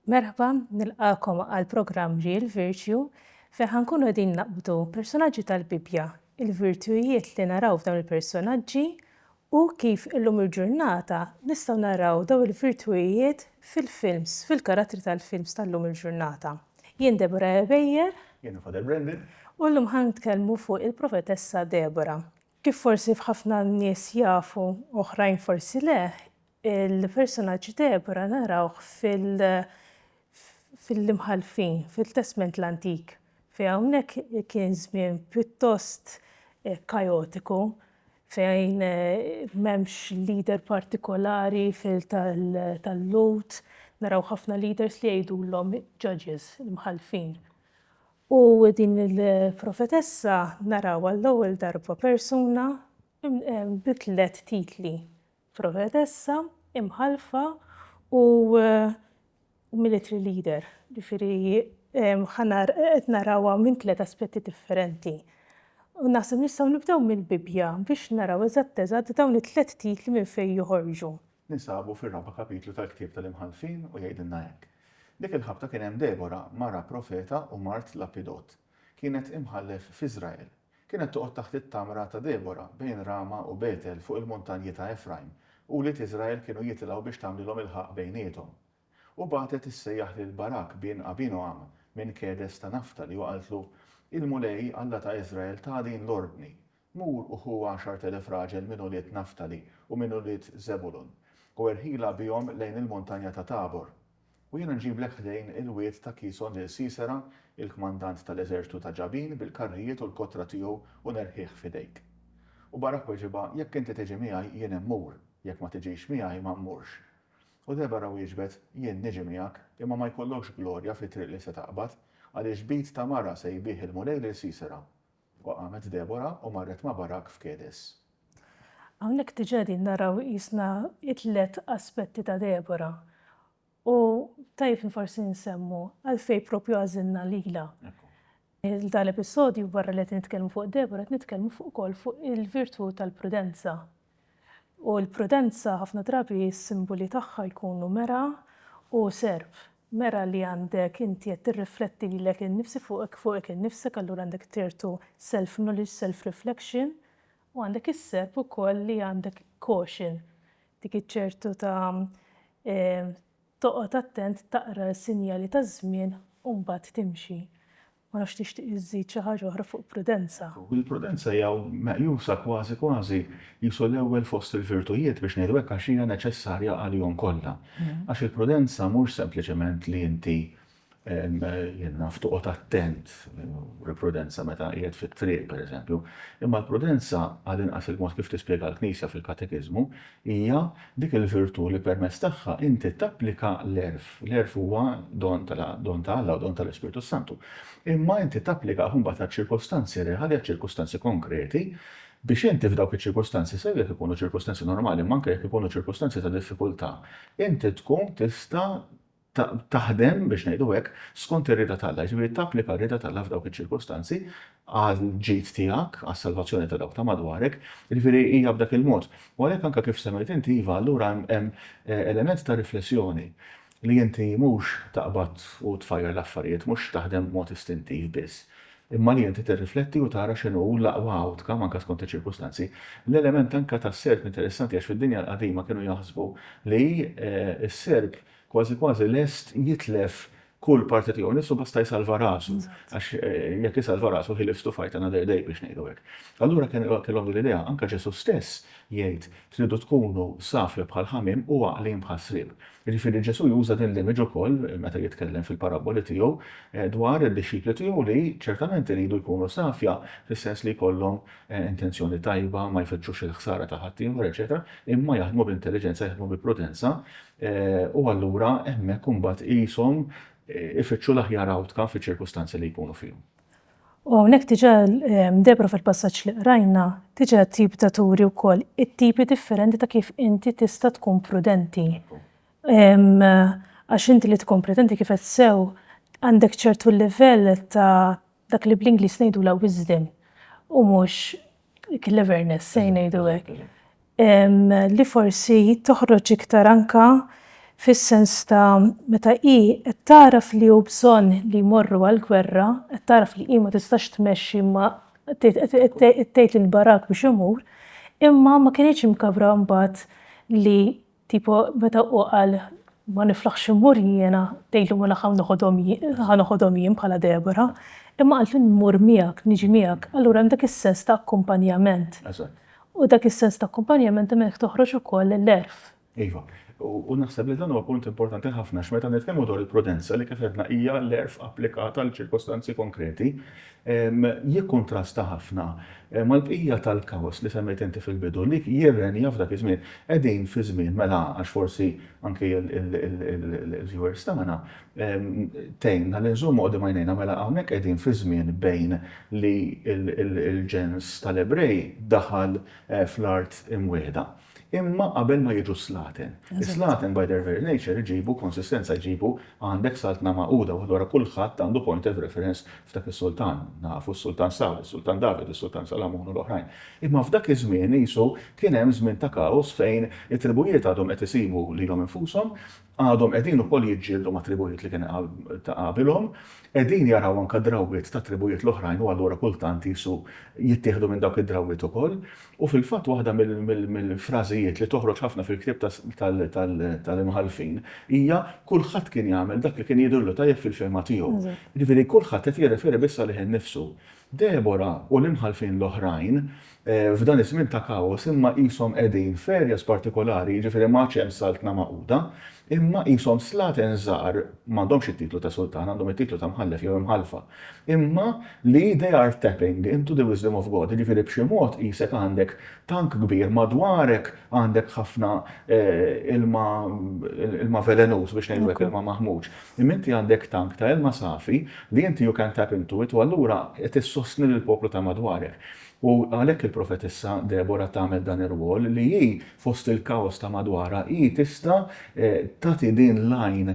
Merħba, nilqakom għal programm Real Virtue fejn ħankunu din naqbdu personaġġi tal-Bibbja, il-virtujiet li naraw f'dawn il-personaġġi U kif illum il-ġurnata nistgħu naraw dawn il-virtuijiet fil-films, fil-karattri tal-films tal-lum il-ġurnata. Jien Deborah Ebejer. Jiena Father Brendan. U llum ħa nitkellmu fuq il-Profetessa Deborah. Kif forsi f'ħafna nies jafu u oħrajn forsi le, il-persunaġġ Deborah narawh fil-Imħallfin, fil-Testment l-Antik, fejn hawnhekk kien żmien pjuttost kajotiku, fejn m'hemmx leader partikolari fil tal-Lhud, naraw ħafna leaders li jgħidulhom judges, l-imħallfin. U din il-profetessa naraw għall-ewwel darba persuna bi tliet titli. Profetessa, imħallfa u military leader. Ġifieri qed narawha minn tliet aspetti differenti. U naħseb nistgħu nibdew mill-Bibbja biex naraw eżatt eżatt dawn it-tliet titli minn fejn joħorġu. Ninsabu fir-raba' kapitlu tal-ktieb tal-Imħallfin u jgħidilna hekk, Dik il-ħabta kien hemm Debora, mara profeta u mart Lapidot. Kienet imħallef f'Iżrael. Kienet toqgħod taħt it-tamra ta' Debora, bejn Rama u Betel fuq il-muntanji ta' Efrajm, u wlied Iżrael kienu jitilgħu biex tagħmlilhom ilħaq bejniethom. U bagħtet issejjaħ lil Barak bin Abinoam minn Kedes ta' Naftali u qaltlu, Il-Mulej, Alla ta' Iżrael, ta din l-ordni, Mur u ħu għaxart elef raġel minn ulied Naftali u minn ulied Żebulun, u erħilha bihom lejn il-muntanja ta' Tabor. U jiena nġiblek ħdejn il-wied ta' Kison lil Sisera, il-kmandant ta' l-eżerċtu ta' Ġabin bil-karrijiet u l-kotra tiegħu u nerħih f'idejk. U Barak weġibha, Jekk inti tiġi miegħi, jien immur, jekk ma tiġix miegħi, ma mmurx. U Debara wieġbet, Jien niġi miegħek, imma ma jkollokx glorja fit-triq li se taqbad, għaliex b'id ta' mara sejbih il-Mulej lil Sisera. U qamet Debora u marret ma' Barak f'Kedes. Hawnhekk diġà qegħdin naraw qisna t-tliet aspetti ta' Debora. U tajjeb li forsi nsemmu għalfejn proprju għażilna lilha. F'dan l-episodju barra li qed nitkellmu fuq Debora qed nitkellmu fuq ukoll fuq il-virtù tal-prudenza. U l-prudenza ħafna drabi s-simboli tagħha jkunu mera u serp. Mera li għandek inti qed tirrifletti lilek innifsi fuqek fuqek innifsek allura għandek ċertu self knowledge, self reflection u għandek is-serp ukoll li għandek caution dik iċ-ċertu ta' toqgħod attent taqra s-sinjali taż-żmien u mbagħad timxi. Ma nafx tixtieq iżżid xi ħaġa oħra fuq prudenza? Il-prudenza hija meqjusa kważi kważi qisu l-ewwel fost il-virtujiet, biex ngħidu hekk, għax hija neċessarja għalihom kollha. Għax il-prudenza mhux sempliċement li inti, jien naf, toqgħod attent, prudenza meta qiegħed fit-triq, pereżempju, imma l-prudenza, għall-inqas il-mod kif tispjegha l-Knisja fil-Katekiżmu, Hija dik il-virtù li permezz tagħha inti tapplika l-għerf. L-għerf huwa don ta' Alla u don tal-Ispirtu s-Santu. Imma inti tapplikah imbagħad għaċ-ċirkustanzi reali, għaċ-ċirkustanzi konkreti, biex inti f'dawk iċ-ċirkustanzi, sew jekk ikunu ċirkustanzi normali imma anke jekk ikunu ċirkustanzi ta' diffikultà, inti tkun tista' taħdem, biex ngħidu hekk, skont ir-rieda t'Alla, jiġifieri tapplika r-rieda t'Alla f'dawk iċ-ċirkustanzi għall-ġid tiegħek, għas-salvazzjoni ta' dawk ta' madwarek, jiġifieri hija b'dak il-mod. U għalhekk anke kif semmejt inti, iva, allura hemm element ta' riflessjoni, li inti mhux taqbad u tfajjar l-affarijiet, mhux taħdem b'mod istintiv biss, imma li inti tirrifletti u tara x'inhu l-aqwa outcome anke skont iċ-ċirkustanzi. L-element anke tas-Serb interessanti għax fid-dinja l-qadima kienu jaħsbu li s-Serb, kważi kważi lest jitlef kull parti tiegħu nnifsu basta jsalva rasu, għax jekk isalva rasu he lives to fight another day biex ngħidu hekk. Allura kellhom din l-idea, anke Ġesù stess jgħid tridu tkunu safja bħal ħamiem u għaqlin bħal sriep. Jiġifieri Ġesù juża din l-image ukoll meta jitkellem fil-parabboli tiegħu dwar id-dixxipli tiegħu li ċertament iridu jkunu safja fis-sens li jkollhom intenzjoni tajba, ma jfittxux il-ħsara ta' ħaddieħor eċċetera, imma jaħdmu b'intelliġenza, jaħdmu bi prudenza, U allura hemmhekk imbagħad qishom ifittxu l-aħjar outcome fiċ-ċirkustanzi li jkunu fihom. U hawnhekk diġà Debra fil-passaġġ li qrajna diġà tibda turi wkoll it-tipi differenti ta' kif inti tista' tkun prudenti. Għax inti li tkun prudenti kif qed sew għandek ċertu livell ta' dak li bl-Ingliż ngħidulha wisdom u mhux cleverness, se ngħidu hekk, li forsi toħroġ iktar anka fis-sens ta' meta hi qed tagħraf li hu bżonn li jmorru għall-gwerra, qed tagħraf li hi ma tistax tmexxi ma tgħid lil Barak biex imur, imma ma kinitx imkabbra mbagħad li Tipo meta hu qal ma niflaħx immur jiena, tgħidlu ma nafx hawn noħodhom jien, ħa noħodhom jien bħala Deborah, imma qaltlu mmur miegħek, niġi miegħek, allura hemm dak is-sens ta' akkumpanjament. Eżatt. U dak is-sens ta' akkumpanjament hemm hekk toħroġ ukoll l-għerf. Iva. U naħseb li dan huwa punt importanti ħafna għax meta nitkellmu dwar il-prudenza li kif għedna hija l-għerf applikat għal ċirkostanzi konkreti, jikkuntrasta ħafna mal-bqija tal-kaos li semmejt inti fil-bidu li jirrenja f'dak iż-żmien. Qegħdin fi żmien, mela għax forsi anki l-viewers tagħna tgħinna li nżommu quddiem għajnejna, mela hawnhekk qegħdin fi żmien bejn li l-ġens tal-Ebrej daħal fl-Art Imwiegħda. Imma qabel ma jiġu s-slaten. Is-slaten by their very nature iġibu konsistenza, iġibu għandek Saltna Magħquda u allura kulħadd għandu point of reference f'dak is-sultan. Nafu s-Sultan Sawl, is-Sultan David, is-Sultan Salamun u l-oħrajn. Imma f'dak iż-żmien qisu kien hemm żmien ta' kaos fejn it-tribujiet għadhom qed isibu lilhom infushom Għadhom qegħdin ukoll jiġġieldu mat-tribujiet li kien ta' qabilhom. Qegħdin jaraw anke drawwiet tat-tribujiet l-oħrajn u allura kultant qisu jittieħdu minn dawk id-drawwiet ukoll. U fil-fatt waħda mill-frażijiet li toħroġ ħafna fil-ktieb tal-Imħallfin hija kulħadd kien jagħmel dak li kien jidhirlu tajjeb fil-fehma tiegħu. Jiġifieri kulħadd qed jirreferi biss għalih innifsu. Debora u l-imħallfin l-oħrajn f'dan iż-żmien ta' kaos imma qishom qegħdin f'areas partikolari, jiġifieri ma għadx hemm Saltna magħquda, imma qishom slaten żgħar, m'għandhomx it-titlu ta' sultan, għandhom it-titlu ta' mħallef jew imħallfa, imma li they are tapping into the wisdom of God, jiġifieri b'xi mod qisek għandek tank kbir madwarek għandek ħafna ilma ilma velenuż biex ngħidu hekk, ilma maħmuġ. Imma inti għandek tank ta' ilma safi li inti you can tap into it u allura qed issostni lill-poplu ta' madwarek. U għalhekk il-profetissa Debora tagħmel dan ir-rwol li hi fost il-kaos ta' madwarha hi tista' tagħti din l-għajn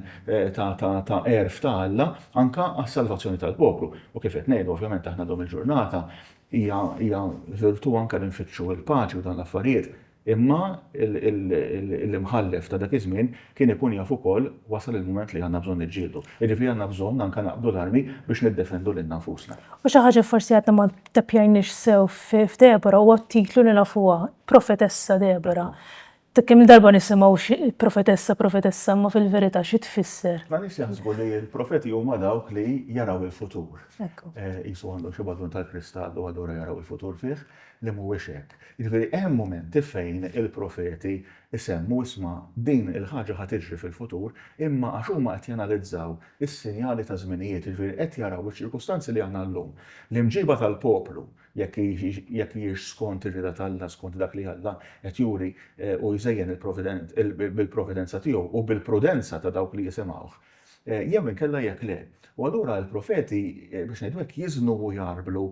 ta' għerf ta' Alla anke għas-salvazzjoni tal-poplu. U kif qed ngħidu, ovvjament aħna llum il-ġurnata hija hija virtù anke li nfittxu l-paċi u dawn l-affarijiet. Imma l-Imħallef ta' dak iż-żmien kien ikun jaf ukoll wasal il-mument li għandna bżonn niġġieldu. Jiġifieri għandna bżonn anke naqbdu l-armi biex niddefendu lilna nfusna. U xi ħaġa li forsi għadna ma ttappjajniex sew f'Debora huwa t-titlu li nafuha, Profetessa Debora. Kemm-il darba nisimgħu profetessa, profetessa, imma fil-verità xi tfisser? Ħafna nies jaħsbu li l-profeti huma dawk li jaraw il-futur. Qisu għandhom xi balun tal-kristall u allura jaraw il-futur fih, li mhuwiex hekk. Jiġifieri hemm mumenti fejn il-profeti jsemmu, isma', din il-ħaġa ħa tiġri fil-futur, imma għax huma qed janalizzaw is-sinjali taż-żminijiet, jiġifieri qed jaraw iċ-ċirkustanzi li għandna llum. L-imġiba tal-poplu, jekk jekk hijiex skont ir-rieda t'Alla, skont dak li Alla qed juri u jżejjen il-providen bil-providenza tiegħu u bil-prudenza ta' dawk li jisimgħuh, Jew inkella jekk le. U allura l-profeti, biex ngħidu hekk, jiżnu u jgħarblu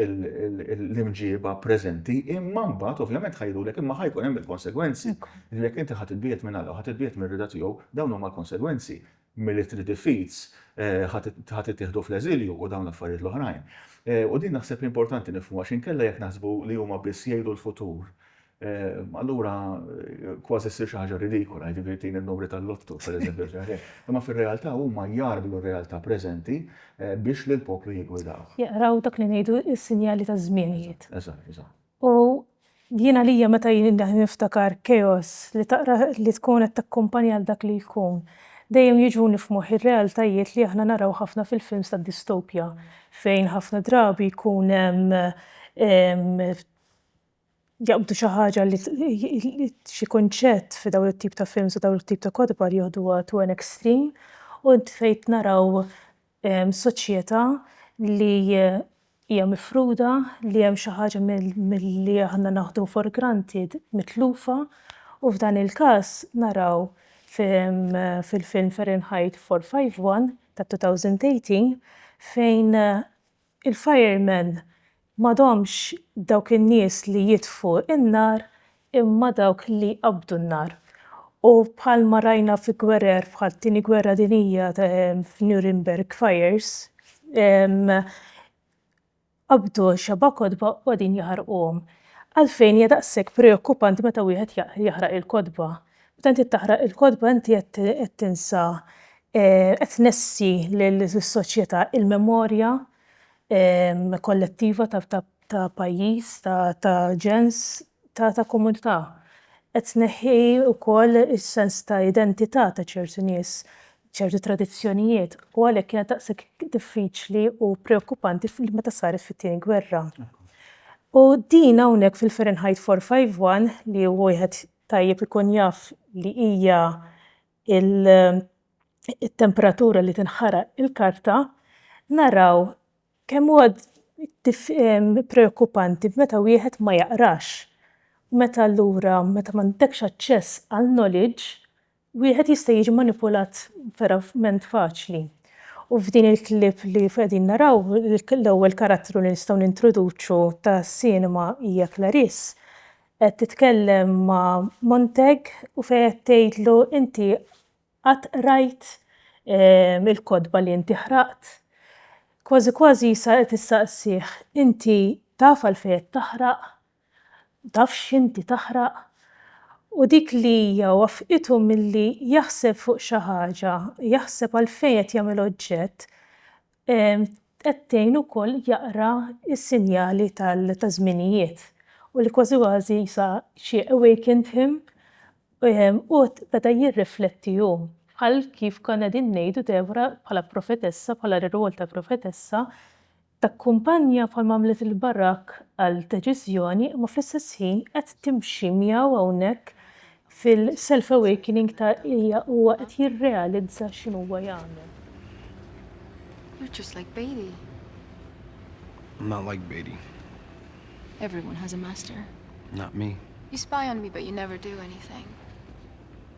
l-imġieba preżenti, imma mbagħad ovvjament ħa jgħidulek imma ħa jkun hemm il-konsegwenzi. Jiġifieri jekk inti ħa titbiegħed minn Alla u ħa titbiegħed mir-rieda tiegħu, dawn huma l-konsegwenzi. Milli trid ifiz, ħa tittieħdu fl-eżilju u dawn l-affarijiet l-oħrajn. U din naħseb li importanti nifhmuha għax inkella jekk naħsbu li huma biss jgħidu l-futur, Allura kważi ssir xi ħaġa ridikola, jiġifieri tini n-numri tal-Lotto, pereżempju, xi ħaġa hekk. Imma fir-realtà huma jgħarblu r-realtà preżenti biex lill-poplu jiggwidawh. Jaqraw dak li ngħidu s-sinjali taż-żmienijiet. Eżatt, eżatt. U jien għalija meta jien niftakar chaos li taqra li tkun qed takkumpanja għal dak li jkun, dejjem jiġuni f'moħħi r-realtajiet li aħna naraw ħafna fil-films tad-distopja fejn ħafna drabi jkun hemm jaqbdu xi ħaġa li xi kunċett fi dawn it-tip ta' films u dawn it-tip ta' kotba li joħduha to an extreme u fejn naraw soċjetà li hija mifruda, li hemm xi ħaġa milli aħna naħdu for granted mitlufa u f'dan il-każ naraw fil-film Fahrenheit 451 ta' 2018 fejn Il-firemen m'għadhomx dawk in-nies li jitfgħu n-nar imma dawk li jqabbdu n-nar. U bħalma rajna fi gwerer bħal Tieni Gwerra Dinjija f'Nuremberg Fires, qabbdu xebgħa kotba u qegħdin jaħarquhom. Għalfejn hija daqshekk preokkupanti meta wieħed jaħraq il-kotba? Meta inti taqra il-kotba inti qed tinsa qed tnessi lis-soċjetà il-memorja kollettiva ta' pajjiż, ta' ġens, ta' komunità. Qed tneħħi wkoll is-sens ta' identità ta' ċertu nies, ċertu tradizzjonijiet u għalhekk kienet daqshekk diffiċli u preokkupanti meta saret fit-Tieni Gwerra. U din hawnhekk fil-Fahrenheit 451 li hu wieħed tajjeb ikun jaf li hija t-temperatura li tinħaraq il-karta, naraw kemm huwa preokkupanti meta wieħed ma jaqrax. Meta allura meta m'għandekx aċċess għal knowledge, Wieħed jista' jiġi manipulat verament faċli. U f'din il-clip li qegħdin naraw, l-ewwel karattru li nistgħu nintroduċu ta' Cinema hija Clarice. Qed titkellem ma' Montag u fejn qed tgħidlu inti qatt qrajt ehm, il-kotba li inti ħraqt? Kważi kważi sa qed issaqsih inti taf għalfejn qed taħraq tafx x'inti taħraq u dik li hija waffqitu milli jaħseb fuq xi ħaġa, jaħseb għalfejn qed jagħmel oġġett, qed tgħin ukoll jaqra s-sinjali taż-żminijiet u li kważi kważi sa she awakened him u beda jirrifletti hu. Bħal kif konna qegħdin ngħidu Deborah bħala profetessa, bħala r-rwol ta' profetessa, Takkumpanja bħal ma għamlet lil Barak għal deċiżjoni imma fl-istess ħin qed timxi miegħu hawnhekk fil-self awakening ta' hija huwa qed jirrealizza x'inhu huwa jagħmel. You're just like Bailey. I'm not like Bailey. Everyone has a master. Not me. You spy on me but you never do anything.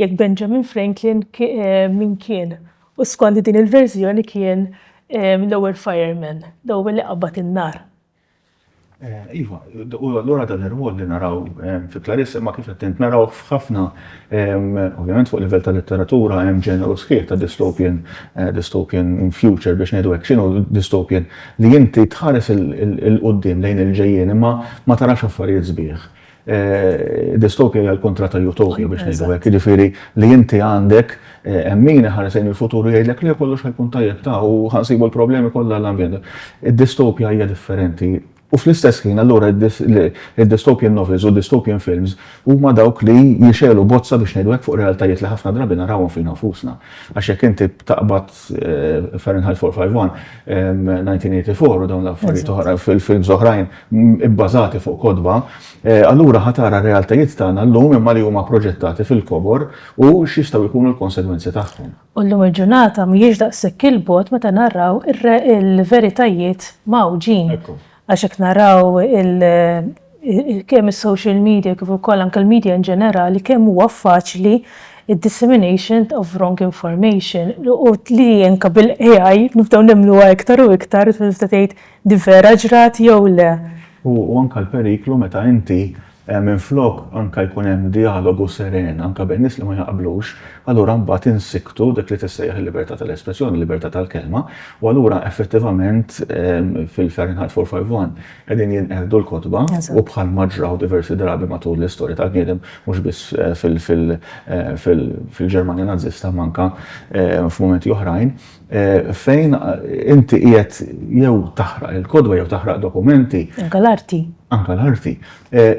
jekk Benjamin Franklin min kien, u skond din il-verżjoni kien l-ewwel fireman, l-ewwel li qabad in-nar. Iva, u allura dan ir-rwol li naraw fi Clarissa, imma kif qed int narawh f'ħafna, ovvjament fuq livell ta' letteratura hemm ġeneru sħiħ ta' dystopian, dystopian future biex ngħidu hekk. X'inhu dystopian? Li inti tħares 'il quddiem lejn il-ġejjieni imma ma tarax affarijiet sbieħ. Distopja hija l-kontra ta' utopja biex ngħidu hekk, jiġifieri li inti għandek min iħares lejn il-futur u jgħidlek li kollox ħajkun tajjeb ta' u ħansibu l-problemi kollha l-ambjent. Id-distopja hija differenti. U fl-istess ħin allura id-dystopian novels u dystopian films huma dawk li jixegħlu bozza biex ngħidu hekk fuq realtajiet li ħafna drabi narawhom fina nfusna. Għax jekk inti taqbad Fahrenheit 451, 1984 u dawn l-affarijiet oħra fil-films oħrajn ibbażati fuq kotba, allura ħa tara r-realtajiet tagħna llum imma li huma proġettati fil-kobor u x'jistgħu jkunu l-konsegwenzi tagħhom. U llum il-ġurnata mhijiex daqshekk 'il bogħod meta naraw il-veritajiet mgħawġin Għax jekk naraw kemm is-social media kif ukoll anke l-media in ġenerali kemm huwa faċli d-dissemination of wrong information u li anke bil-AI nibdew nemmnuha iktar u iktar tista' tgħid din vera ġrat jew le. U anke l-periklu meta inti Minflok anke jkun hemm djalogu seren anke bejn nies li ma jaqblux, allura mbagħad insikktu dik li tissejjaħ il-libertà tal-espressjoni, il-libertà tal-kelma, u allura effettivament fil-Fahrenheit 451 qegħdin jinqerdu l-kotba u bħalma ġraw diversi drabi matul l-istorja tal-bniedem mhux biss fil-Ġermanja Nażista imma anke f'mumenti oħrajn, Fejn inti qiegħed jew taħraq il-kodwa jew taħraq dokumenti. Anka l-arti. Anka l-arti.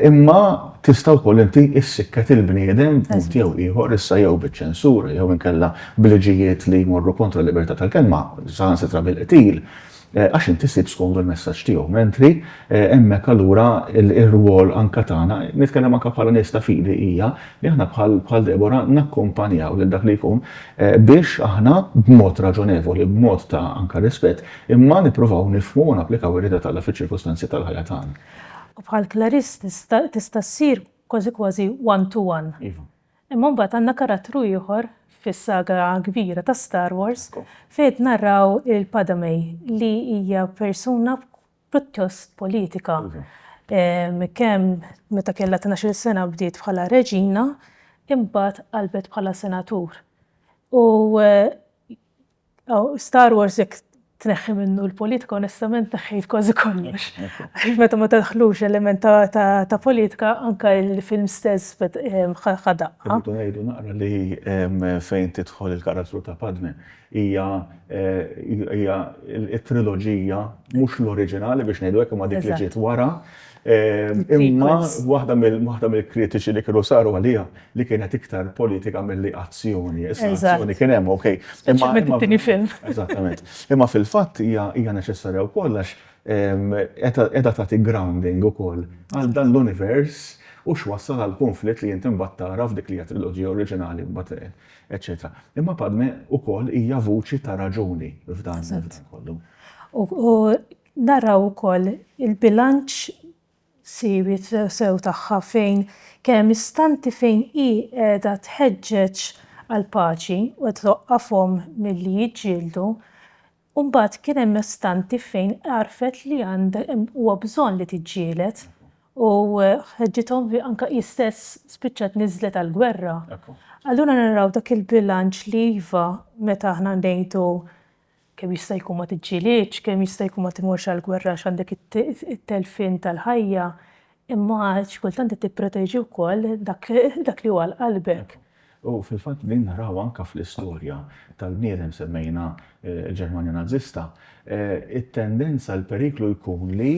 Imma tista' wkoll inti issikket il-bniedem b'mod jew ieħor issa jew biċ-ċensura jew inkella b'liġijiet li jmorru kontra l-libertà tal-kelma, saħansitra bil-qtil. Għax inti ssib skomdu l-messaġġ tiegħu, mentri hemmhekk allura r-rwol anke tagħna, nitkellem anke bħala nies ta' fidi, hija li aħna bħal Debora nakkumpanjaw lil dak li jkun biex aħna b'mod raġonevoli, b'mod ta' anke rispett, imma nippruvaw nifhmu u napplikaw ir-rieda t'Alla fiċ-ċirkustanzi tal-ħajja tagħna. U bħal Clarice tista' ssir kważi kważi one to one. Iva. Imma mbagħad għandna karattru ieħor fis-saga kbira ta' Star Wars fejn qed narraw il-Padame li hija persuna pjuttost politika. Kemm meta kellha tnax-il sena bdiet bħala reġina imbagħad qalbet bħala senatur. U Star Wars jekk tneħħi minnu l-politika onestament neħħejt kważi kollox. Għax meta ma tadħlux element ta' politika anke l-film stess ħadha. Irridu ngħidu naqra li fejn tidħol il-karattru ta' Padme hija t-triloġija mhux l-oriġinali biex ngħidu hekk imma dik li ġiet wara Imma waħda mill-kritiċi li kienu saru għaliha li kienet iktar politika milli azzjoni. Issa azzjoni kien hemm, okej. Imma it-tieni film. Eżattament. Imma fil-fatt hija neċessarja wkoll għax qiegħda tagħti grounding ukoll għal dan l-univers u x'wassal għall-kunflitt li inti mbagħad tara f'dik li hija triloġija oriġinali mbagħad eċċetera. Imma Padme ukoll hija vuċi ta' raġuni f'dan kollu. U Naraw ukoll il-bilanċ siwi sew tagħha fejn kien hemm istanti fejn hi qiegħda tħeġġeġ għall-paċi u twaqqafhom milli jiġġieldu u mbagħad kien hemm istanti fejn għarfet li huwa bżonn li tiġġieled u ħeġġithom anke hi stess spiċċat niżlet għall-gwerra. Allura naraw dak il-bilanċ li iva meta aħna ngħidu Kemm jista' jkun ma tiġġielidx, kemm jista' jkun ma timurx għall-gwerra għax għandek it-telfien tal-ħajja, imma xi kultant qed tipproteġi wkoll dak li hu għal qalbek. U fil-fatt din naraw anke fl-istorja tal-bniedem, semmejna l-Ġermanja Nażista, it-tendenza l-periklu jkun li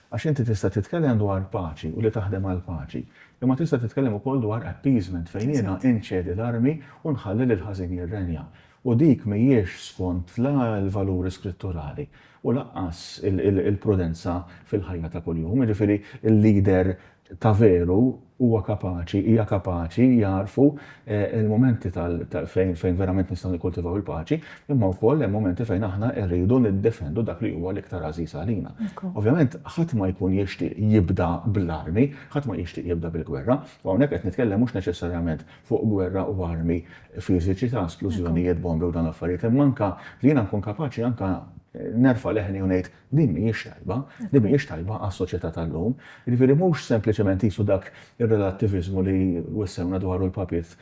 Għax inti tista' titkellem dwar paċi u li taħdem għall-paċi, imma tista' titkellem ukoll dwar appeasement fejn jiena inċedi l-armi u nħalli lill-ħażin jirrenja. U dik mhijiex skont la l-valuri skritturali u lanqas il-prudenza fil-ħajja ta' kuljum. Jiġifieri l-leader ta' veru huwa kapaċi, hija kapaċi jagħrfu l-mumenti fejn verament nistgħu nikkultivaw il-paċi, imma wkoll hemm mumenti fejn aħna rridu niddefendu dak li huwa l-iktar għażiż għalina. Ovvjament, ħadd ma jkun jixtieq jibda bl-armi, ħadd ma jixtieq jibda bil-gwerra, u hawnhekk qed nitkellem mhux neċessarjament fuq gwerra u armi fiżiċi ta' splużjonijiet, bombi u dawn l-affarijiet, imma anke li jiena nkun kapaċi anke nerfa' leħni u ngħid, Din mhijiex tajba, din mhijiex tajba għas-soċjetà tal-lum. Jiġifieri mhux sempliċement qisu dak ir-relattiviżmu li wissewna dwaru l-Papiet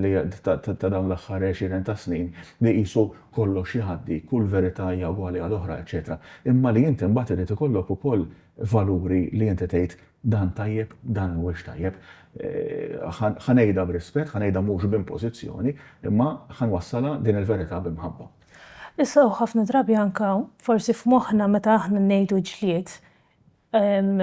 li ta' dawn l-aħħar għexieren ta' snin li qisu kollox jgħaddi, kull verità hija ugwali għal oħra, eċċetera. Imma li inti mbagħad irid ikollok ukoll valuri li inti tgħid dan tajjeb, dan mhuwiex tajjeb. Ħa ngħidha b'rispett, ħa ngħidha mhux b'impożizzjoni, imma ħa nwassalha din il-verità b'imħabba. Issa u ħafna drabi anka forsi f'moħħna meta aħna ngħidu ġlied,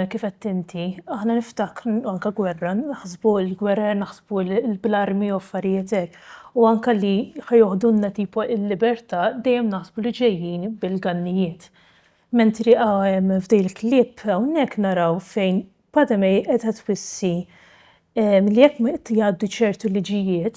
kif għedt inti, aħna niftakru, anka gwerra, naħsbu l-gwerer, naħsbu l-armi u affarijiet hekk. U anka li ħa joħdulna tipo il-libertà dejjem naħsbu li ġejjin bil-gannijiet. Mentri f'din il-clip hawnhekk naraw fejn Padme qiegħda twissi li jekk jgħaddu ċertu liġijiet,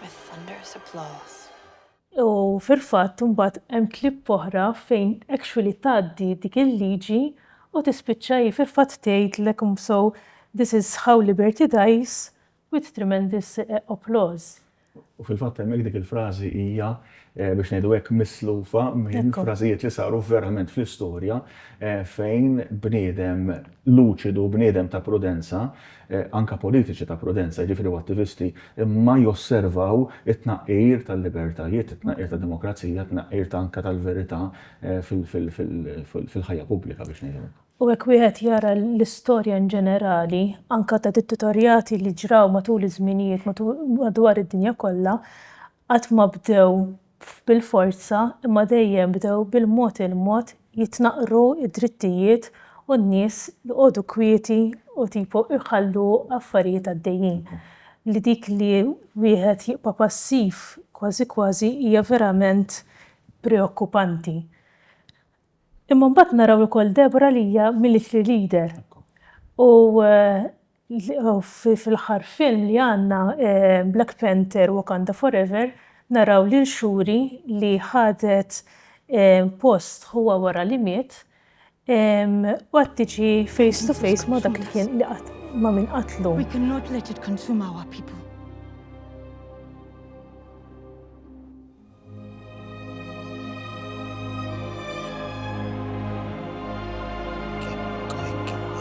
With thunderous applause. U fil-fatt imbagħad hemm clip oħra fejn actually tgħaddi dik il-liġi u tispiċċa hi fil-fatt tgħidlek so this is how liberty dies with tremendous applause. U fil-fatt hemmhekk dik il-frażi hija biex ngħidu hekk mislufa minn frażijiet li saru verament fl-istorja fejn bniedem luċidu, bniedem ta' prudenza anke politiċi ta' prudenza, jiġifieri u attivisti, imma josservaw it-tnaqqir tal-libertajiet, it-tnaqqir tad-demokrazija, it-tnaqqir ta' anke tal-verità fil-ħajja pubblika biex ngħidu hekk. U jekk wieħed jara l-istorja in ġenerali, anke ta' dittatorjati li ġraw matul iż-żminijiet madwar id-dinja kollha, qatt ma bdew bil-forza imma dejjem bdew bil-mod il-mod jitnaqqru d-drittijiet u n-nies joqogħdu kwieti u tipo jħallu affarijiet għaddejjin. Li dik li wieħed jibqa' passiv kważi kważi hija verament preokkupanti. Imma mbagħad naraw ukoll Deborah li hija military leader u Fl-aħħar film li għandna, Black Panther, Wakanda Forever, naraw lil Shuri li ħadet post ħuha wara li miet u qed tiġi face to face ma' dak li kien ma' min qatlu.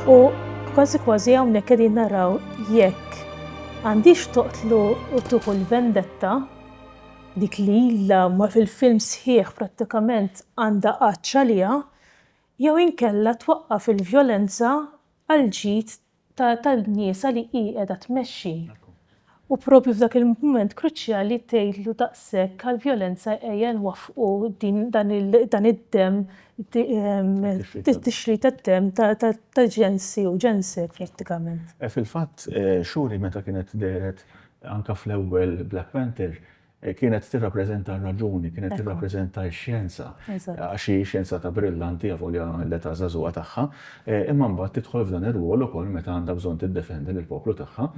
U kważi kważi hawnhekk qegħdin naraw jekk għandix toqtlu u tuħu l-vendetta dik li illa ma fil-film sħiħ prattikament għandha qaċċa liha jew inkella twaqqaf il-vjolenza għal ġid tan-nisa li hi qiegħda tmexxi u propju f'dak il-mument kruċjali tgħidlu daqshekk għall-vjolenza ejja nwaffqu dan id-demm it-tixrid tad-demm ta' ġensi u ġensek prattikament. Fil-fatt xhuri meta kienet dehret anke fl-ewwel Black Panther Kienet tirrappreżenta r-raġuni, kienet tirrappreżenta x-xjenza, għax hi xjenzata brillanti avolja l-età żagħżugħa tagħha, imma mbagħad tidħol f'dan ir-rwol ukoll meta għandha bżonn tiddefendi lill-poplu tagħha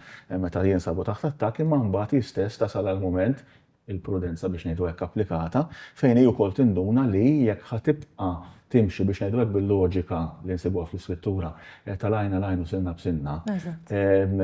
meta jinsabu taħt attakk imma mbagħad hi stess tasal għal mument, il-prudenza biex ngħidu hekk applikata, fejn hi wkoll tinduna li jekk ħa tibqa' timxi biex ngħidlek bil-loġika li nsibuha fl-iskrittura eh, ta' lajna lajn u sinna b'sinna. Ehm,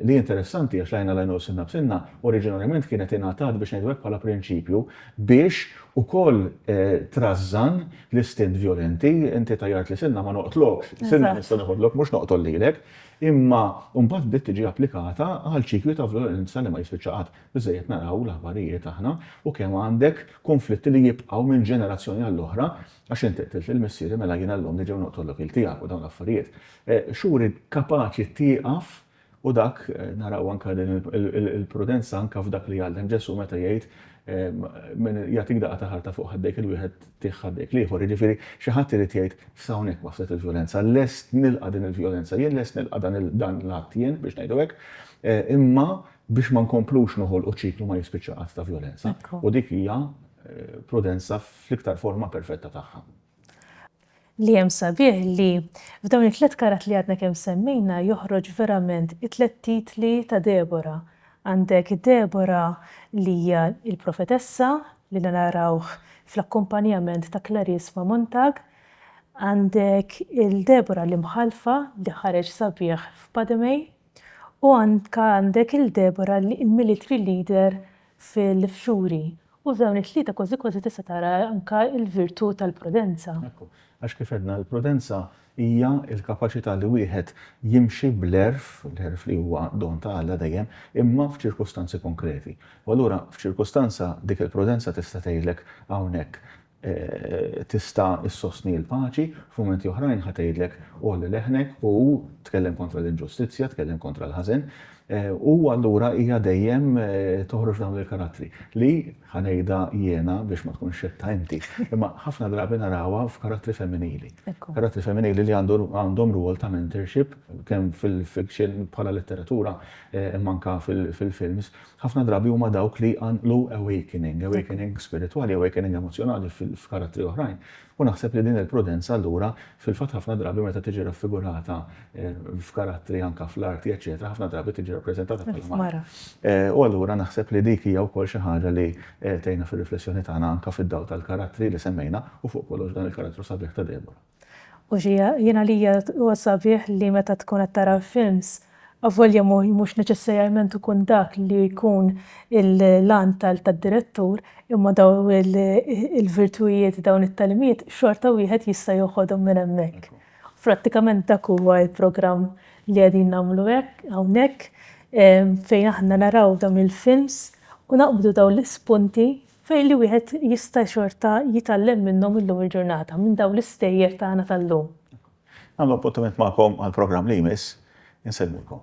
li interessanti għax lajna lajn u sinna b'sinna oriġinarjament kienet ingħatat biex ngħidlek bħala prinċipju biex ukoll eh, trażżan l-istint violenti inti tajjart li sinna ma noqtlokx, sinna nista' neħodlok mhux noqtol lilek, imma mbagħad bdiet tiġi applikata għal ċikli ta' violenza li ma jispiċċaqat. Biżżejjed naraw l-aħbarijiet aħna u kemm għandek kunflitti li jibqgħu minn ġenerazzjoni għall-oħra, għax inti qtilt lil missieri mela jiena llum niġi u noqtolok il tiegħek u dawn l-affarijiet. X'uri kapaċi tieqaf u dak naraw anke din il-prudenza anke f'dak li jgħallem Ġesù meta jgħid min jagħtik daqqa ta' ħarta fuq ħaddejk il-wieħed tih ħaddejk l-ieħor. Jiġifieri xi ħadd irid jgħid f'hawnhekk waslet il-vjolenza, lest nilqa' din il-vjolenza jien, lest nilqa' dan l-att jien biex ngħidu hekk, imma biex ma nkomplux noħolqu ċiklu ma jispiċċa qatt ta' vjolenza, u dik hija prudenza fl-iktar forma perfetta tagħha. Li hemm sabiħ li f'dawn it-tliet karat li għadna kemm semmejna joħroġ verament it-tliet titli ta' Debora. Għandek Debora li hija l-profetessa li narawh fl-akkumpanjament ta' Clarice ma' Montag, għandek il-Debora l-imħallfa li ħareġ sabiħ f'Pademei, U anke għandek il Deborah li hi military leader fil fxuri. U dawn it tlieta kważi kważi tista tara anke il virtu tal prudenza. Ekku. Għax kif għedna il prudenza hija il kapaċita li wieħed jimxi bl-għerf, l-għerf li huwa don ta Alla dejjem, imma f'ċirkustanzi konkreti. U allura f'ċirkustanza dik il prudenza tista tgħidlek hawnhekk tista' ssostni l-paċi, f'mumenti oħrajn ħa tgħidlek għolli leħnek u tkellem kontra l-inġustizzja, tkellem kontra l-ħażen. U allura hija dejjem toħroġ dawn il-karattri li, ħa ngħidha jiena biex ma tkunx xettha inti, imma ħafna drabi narawha f'karattri femminili. Karattri femminili li għandhom rwol ta' mentorship kemm fil-fiction bħala letteratura imma anke fil-films. Ħafna drabi huma dawk li jqanqlu awakening, awakening spiritwali, awakening emozzjonali f'karattri oħrajn. U naħseb li din il-prudenza allura, fil-fatt ħafna drabi meta tiġi raffigurata f'karattri anke fl-arti eċċetera, ħafna drabi tiġi rappreżentata bħala mara. U allura naħseb li dik hija wkoll xi ħaġa li tgħinna fir-riflessjoni tagħna anke fid-dawl tal-karattri li semmejna u fuq kollox dan il-karattru sabiħ ta' Deborah. U xi jien għalija huwa sabiħ li meta tkun qed tara films, avolja mhux neċessarjament ikun dak li jkun l-għan tad-direttur, imma dawn il-virtujiet, dawn it-tagħlimiet xorta wieħed jista' joħodhom minn hemmhekk. Prattikament dak huwa l-programm li qegħdin nagħmlu hekk hawnhekk fejn aħna naraw dawn il-films u naqbdu dawn l-ispunti fejn li wieħed jista' xorta jitgħallem minnhom illum il-ġurnata, minn dawn l-istejjer tagħna tal-lum. Nagħmlu appuntament magħkom għall-programm li jmiss. Insellmilkom.